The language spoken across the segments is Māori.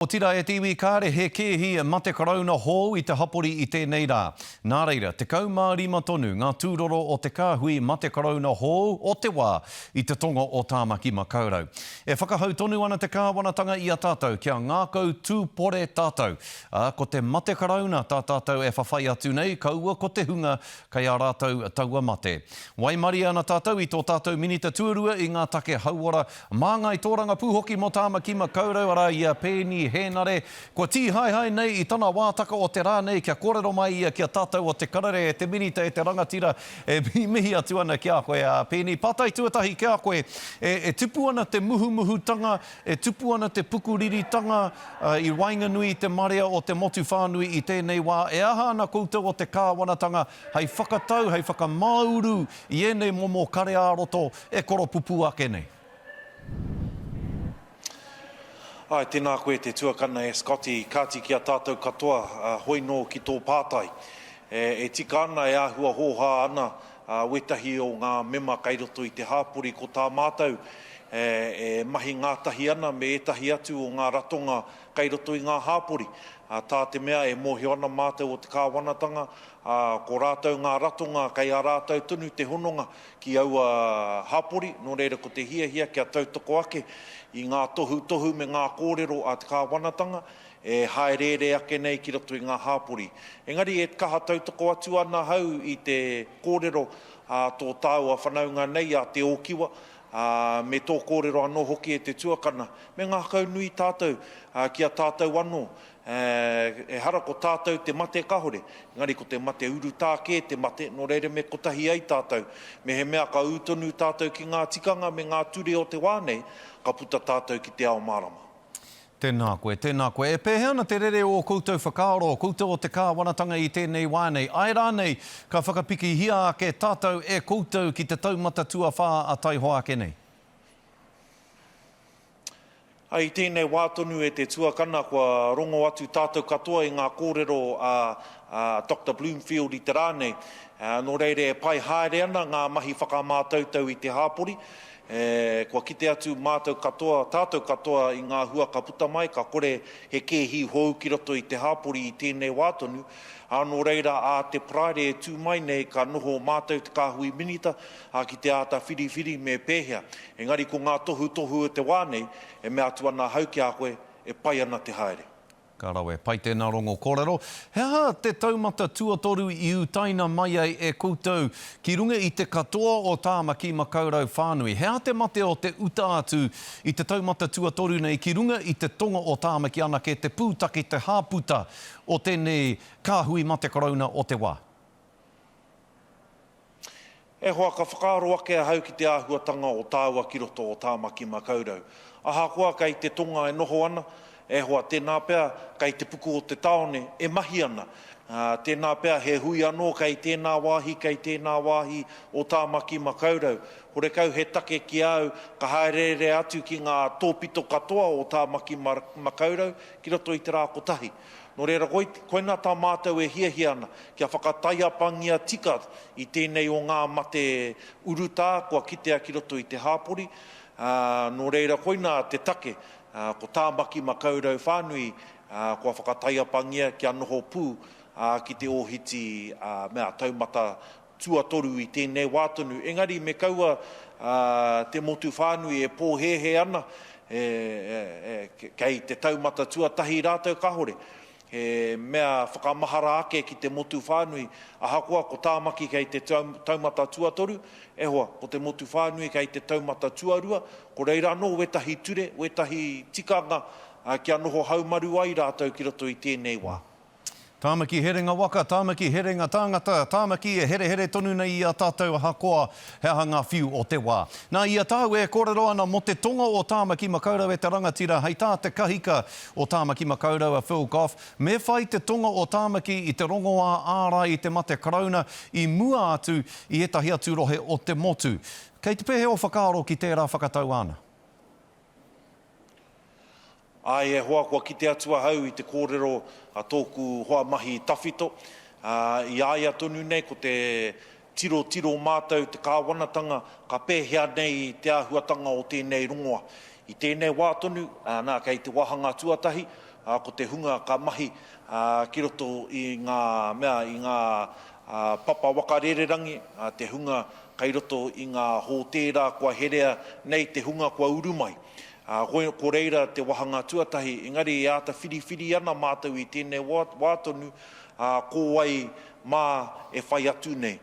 Otirā e te iwi kāre he kēhi e mate Karauna hou i te hapori i tēnei rā. Nā reira, 15 tonu ngā tūroro o te kāhui mate Karauna hou o te wā i te tonga o Tāmaki Makaurau. E whakahau tonu ana te kāwanatanga i a tātou kia ngākau tūpore tātou, ā, ko te mate Karauna tā tātou e whawhai atu nei kaua ko te hunga kei a rātou taua mate. Waimarie ana tātou i tō tātou Minita Tuarua i ngā take hauora Māngai tōrangapū hoki mō Tāmaki Makaurau, arā, i a Peeni Hēnare. Kua tīhaehae nei i tana wātaka o te rā nei kia kōrero mai ia ki a tātou o Te Karere, e te Minita, e te rangatira, e mihimihi atu ana ki a koe, ā, Peeni, pātai tuatahi ki a koe, e, e tupu ana te muhumuhutanga, e tupu ana te pukuriritanga i waenganui i te marea o te motu whānui i tēnei wā, e aha ana koutou o te Kāwanatanga, hei whakatau, hei whakamāuru i ēnei momo kare ā-roto e koropupū ake nei. Āe, tēnā koe te tuakana e Scotty, kāti ki a tātou katoa, hoi nō ki tō pātai. E tika ana, e āhua hōhā ana wētahi o ngā mema kei roto i te hāpori ko tā mātou e mahi ngātahi ana me ētahi atu o ngā ratonga, Kei roto i ngā hāpori, tā te mea e mōhio ana mātou o te Kāwanatanga, ko rātou ngā ratonga kei a rātou tonu te hononga ki aua hāpori, nō reira ko te hiahia kia tautoko ake i ngā tohutohu me ngā kōrero a te Kāwanatanga e hāereere ake nei ki roto i ngā hāpori. Engari e kaha tautoko atu ana ahau i te kōrero a tō tāua whanaunga nei a Te Ōkiwa, ā, me tō kōrero anō hoki e te tuakana, me ngākau nui tātou ki a tātou anō, ā, ehara ko tātou te mate kāore, engari ko te mate urutā kē te mate, nō reira me kotahi ai tātou. Mehemea ka ū tonu tātou ki ngā tikanga me ngā ture o te wā nei, ka puta tātou ki te ao mārama. Tēnā koe, tēnā koe. E pēhea ana te rere o ō koutou whakaaro, koutou o te kāwanatanga i tēnei wā nei? Āe rānei, ka whakapikihia ake tātou e koutou ki te taumata tuawhā a taihoa ake nei? Ā, i tēnei wā tonu e te tuakana kua rongo atu tātou katoa i ngā kōrero a Doctor Bloomfield i te rā nei. Nō reira e pai haere ana ngā mahi whakamātautau i te hāpori, E, kua kite atu mātou katoa, tātou katoa i ngā hua ka puta mai, ka kore he kēhi hou ki roto i te hāpori i tēnei wā tonu, ā, nō reira ā te Paraire e tū mai nei ka noho mātou te Kāhui Minita, ā, ki te āta whiriwhiri me pēhea. Engari ko ngā tohutohu o te wā nei, e mea atu ana ahau ki a koe, e pai ana te haere. Ka rawe pai tēnā rongo kōrero. He aha te taumata tuatoru i utaina mai ai e koutou ki runga i te katoa o Tāmaki Makaurau whānui? He aha te mate o te uta atu i te taumata tuatoru nei ki runga i te tonga o Tāmaki anake te pūtake te hāputa o tēnei kāhui mate karauna o te wā? E hoa, ka whakaaro ake ahau ki te āhuatanga o tāua ki roto o Tāmaki Makaurau. Ahakoa kei te tonga e noho ana, e hoa, tēnā pea kei te puku o te tāone e mahi ana, tēnā pea he hui anō kei tēnā wāhi, kei tēnā wāhi o Tāmaki Makaurau. Horekau he take ki a au ka hāereere atu ki ngā tōpito katoa o Tāmaki Makaurau ki roto i te rā kotahi. Nō reira, koinā tā mātou e hiahia ana, kia whakataiapangia tika i tēnei o ngā mate urutā kua kitea ki roto i te hāpori, ā, nō reira koinā te take, ko Tāmaki Makaurau whānui kua whakataiapangia kia noho pū ki te ōhiti mea taumata tuatoru i tēnei wā tonu, engari me kaua te motu whānui e pōhēhē ana kei te taumata tuatahi rātou kāore he mea whakamahara ake ki te motu whānui, ahakoa ko Tāmaki kei te taumata tuatoru, e hoa, ko te motu whānui kei te taumata tuarua, ko reira anō wētahi ture, wētahi tikanga kia noho haumaru ai rātou ki roto i tēnei wā. Tāmaki herenga waka, Tāmaki herenga tāngata, Tāmaki e herehere tonu nei i a tātou ahakoa he aha ngā whiu o te wā. Nā, i a tāu e kōrero ana mō te tonga o Tāmaki Makaurau e te rangatira hei tā te kahika o Tāmaki Makaurau a Phil Goff, me whai te tonga o Tāmaki i te rongoā ārai i te mate Karauna i mua atu i ētahi atu rohe o te motu. Kei te pehe ō whakaaro ki tērā whakatau āna? Āe e hoa, kua kite atu ahau i te kōrero a tōku hoa mahi tawhito. Ā, i a ia tonu nei ko te tirotiro mātou te kāwanatanga ka pēhea nei te āhuatanga o tēnei rongoa. I tēnei wā tonu, nā, kei te wāhanga tuatahi, ā, ko te hunga ka mahi ki roto i ngā mea, i ngā papa waka rererangi, te hunga kei roto i ngā hōtēra kua herea nei te hunga kua uru mai. Hoi, ko reira te wahanga tuatahi, engari e āta whiriwhiri ana mātou i tēnei wā tonu, ā, ko wai mā e whai atu nei.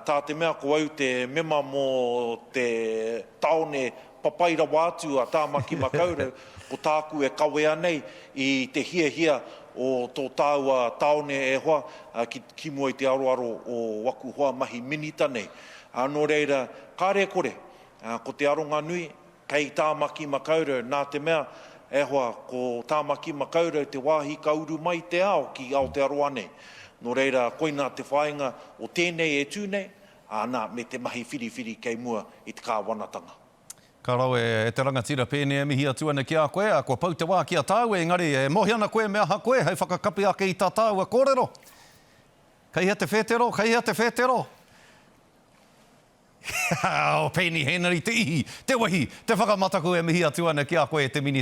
Tā te mea ko au te mema mō te tāone papai rawa atu a Tāmaki Makaurau, ko tāku e kawea nei i te hiahia o tō tāua tāone e hoa ki mua i te aroaro o waku hoa mahi minita nei. Nō reira, kāre e kore, ko te aronga nui, Kei Tāmaki Makaurau, nā te mea, e hoa, ko Tāmaki Makaurau te wāhi ka uru mai te ao ki Aotearoa nei. Nō reira, koinā te whāinga o tēnei e tū nei, ā, nā, me te mahi whiriwhiri kei mua i te kāwanatanga. Ka rawe e te rangatira pēnei e mihi atu ana ki a koe, ā, kua pau te wā ki a tāu, engari, e mohi ana koe me aha koe hei whakakapi ake i tā tāua kōrero. Kei hea te whētero? Kei hea te whētero? He aha o Peeni Henare te ihi, te wehi, te whakamataku e mihi atu ana ki a koe e te Minita?